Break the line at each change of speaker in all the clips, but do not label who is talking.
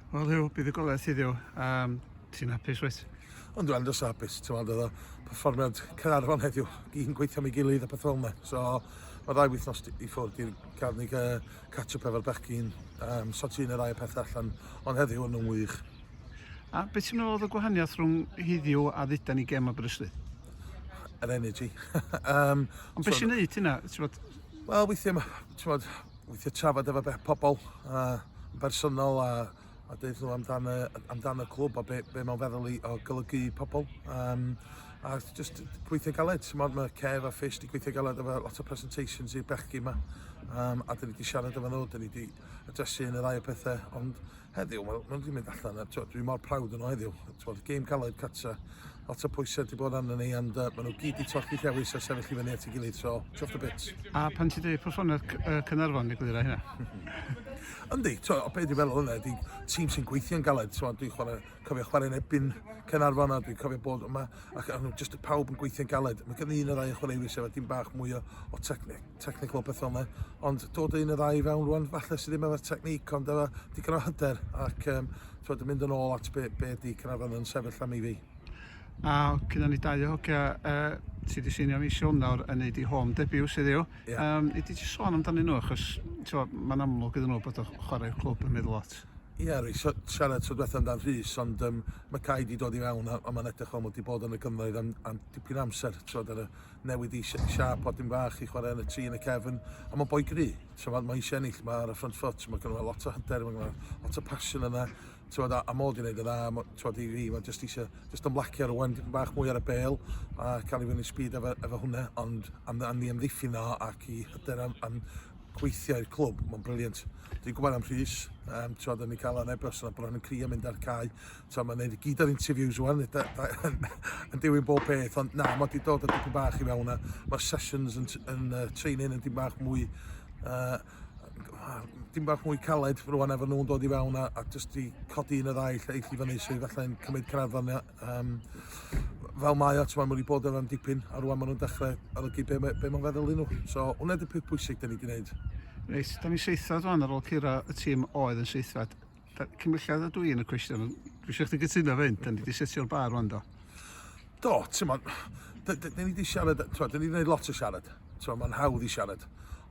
Wel Huw, buddugoliaeth i ddiw. Um, ti'n hapus wyt? Ond dwi'n andros o
hapus, ti'n meddwl, oedd o perfformiad Caernarfon heddiw, un gweithio mi gilydd a peth fel yna. So, mae ddau wythnos i ffwrdd i'r cael ni catch-up efo'r bechgyn, um, so ti'n yr ail peth allan, ond heddiw yn nhw'n wych. A
beth ti'n meddwl oedd y gwahaniaeth rhwng heddiw a dduda ni gem Aberystwyth? Yr
energy. um,
ond beth so, sy'n neud hynna? Wel, weithiau,
ti'n meddwl, Weithiau trafod efo beth pobl uh, bersonol a, a dweud nhw amdano, amdan y clwb a be, be mae'n feddwl i o golygu i pobl. Um, a just gweithio galed, mod mae Kev a Fish di gweithio galed efo lot o presentations i'r bechgi yma. Um, a dyn ni wedi siarad efo nhw, dyn ni wedi adresu yn y ddau o pethau, ond heddiw, mae nhw wedi mynd allan, a twod, dwi mor prawd yn o heddiw. Twod, game caled cata, lot o pwysau wedi bod arno ni, ond uh, maen nhw gyd i torchi llewis a sefyll i fyny at ei gilydd, so chuff the bits. A pan ti'n dweud perfformiad
uh, Cynarfon, neu gwydra hynna?
Yndi, twod, o beth dwi'n meddwl hwnna, ydy tîm sy'n gweithio'n galed, twod, dwi'n chwarae cofio chwarae yn ebyn Caernarfon a dwi'n cofio bod yma ac o'n just y pawb yn gweithio'n galed. Mae gen i un o'r rai chwaraewyr sef dim bach mwy o, o technical pethau yma, ond dod o un o'r rai fewn rwan, falle sydd ddim efo'r technic, ond efo digon o hyder ac um, twod, yn mynd yn ôl at be, be di Caernarfon yn sefyll am i fi. A
cynna ni dau o hogia uh, ti di seinio ni siwn nawr yn neud i home debut sydd yw. Yeah. Um, i di ti sôn amdanyn nhw achos mae'n amlwg iddyn nhw bod o chwarae'r clwb yn meddwl lot. Ia, rwy'n
siarad tro diwethaf amdan Rhys, ond um, mae Cai wedi dod i fewn a, a mae'n edrych fel mod wedi bod yn y gynnoedd am, am dipyn amser. Trod ar y newid i siap podyn fach i chwarae yn y tri yn y cefn, a mae'n boi gry. Trod, mae eisiau ennill, mae ar y front foot, mae gynnu lot o hyder, mae gynnu lot o passion yna. Trod, a, a mod i'n gwneud y dda, trod i fi, mae jyst eisiau, jyst yn blacio ar wan, dipyn bach mwy ar y bel, a cael ei fyny speed efo, efo hwnna, ond am, am ni amddiffyn o ac i hyder am, am gweithio i'r clwb, mae'n briliant. Dwi'n gwybod am Rhys, um, ti'n oedden ni cael yn ebos yna, bod yn crio mynd ar cae. Ti'n mae'n neud i gyd o'r interviews o'n, yn diwyn bob peth, ond na, mae wedi dod o dipyn bach i fewn a mae'r sessions yn, yn uh, training yn dim bach mwy uh, dim bach mwy caled rwan efo nhw'n dod i fewn a, a jyst i codi un o ddau lle eill i fyny sydd allai'n cymryd craddon Um, fel mae o, mae wedi bod yn rhan dipyn, a rwan maen nhw'n dechrau olygu be, be mae'n feddwl i nhw. So, hwnna ydy'r peth pwysig da ni wedi gwneud. Reit, da ni
seithfed rwan ar ôl cyrra y tîm oedd yn seithfed. Cymulliad ydw i yn y cwestiwn, dwi eisiau chdi gytuno fe hyn, da ni wedi setio'r bar rwan do. Do,
ti'n ma, da ni wedi siarad, ti'n ma, da ni wedi gwneud lot o siarad. So mae'n hawdd i siarad.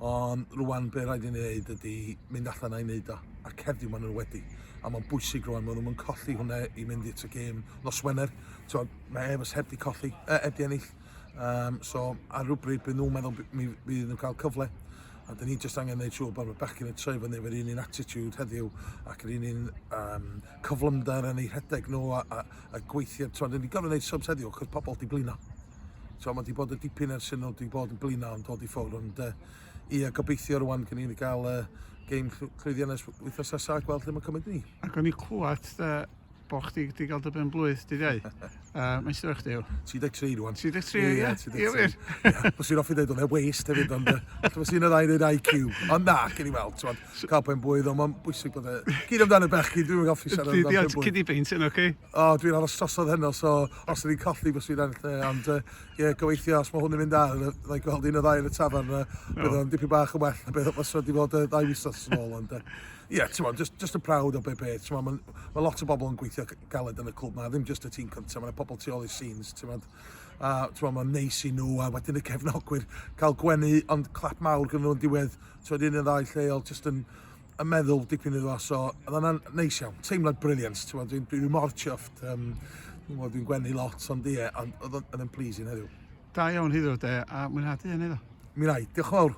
Ond rwan be rhaid i ni wneud ydy mynd allan a'i wneud o. A cerddi maen nhw wedi. A mae'n bwysig rwan, maen nhw'n colli hwnna i mynd i'r y gêm nos Wener. So, mae Evers heb di colli, e, heb di ennill. Um, so ar rhywbryd bydd nhw'n meddwl mi fydd nhw'n cael cyfle. A dyn ni jyst angen gwneud siŵr bod y bechgyn yn troi fyny efo'r un un attitude heddiw ac yr un un um, cyflymder yn ei rhedeg nhw a, a, a gweithio. Dyn ni'n gorfod gwneud subs heddiw achos pobl di blino. So, mae di bod yn dipyn ers hyn nhw di bod yn blina ond dod i ffwr ond uh, ia gobeithio rwan gen i'n gael uh, game llwyddiannus wythnos nesaf a gweld lle mae'n cymryd ni. Ac o'n i clywed
uh, bo chdi wedi cael dy ben blwydd dyddiau. uh, mae'n sy'n chdi yw? 33 rwan. 33, ie.
Ie,
33. Bys i'n offi dweud
o'n e waste hefyd, ond bys i'n yr air IQ. Ond na, gen i weld, ti'n cael ben blwydd, ond mae'n bwysig bod e... Gyd amdano bechgyn, dwi'n mynd offi siarad amdano ben blwydd. Cyd i beint yn, oce?
O, dwi'n aros trosod
heno, so os ydy'n colli, bys fi'n ennill e. Ond ie, yeah, gobeithio, os mae hwn yn mynd ar, dda i gweld un o ddau yn y tafarn, uh, bydd o'n dipyn bach yn well na beth os wedi bod ddau wythnos yn ôl. Ond ie, yeah, ti'n modd, just, just yn prawd o be be. Ti'n modd, mae ma lot o bobl yn gweithio galed yn y clwb na, ddim just y tîm cyntaf, mae yna pobl tu ôl i'r scenes, ti'n modd. A ti'n modd, mae'n neis i nhw, a wedyn y cefnogwyr cael gwenu, ond clap mawr gyda nhw'n diwedd, ti'n modd, un yn ddau lleol, just yn yn meddwl dipyn iddo fo, so oedd hwnna'n neis iawn, teimlad briliant, ti'n gwybod, dwi'n dwi, dwi mor chuffed, um, dwi'n gwybod, dwi'n gwenu lot o'n di e, ond oedd yn
pleasing
heddiw. Da
iawn
hyddo
de,
a
mwynhadu
hynny
ddo. Mi rai,
diolch
yn fawr.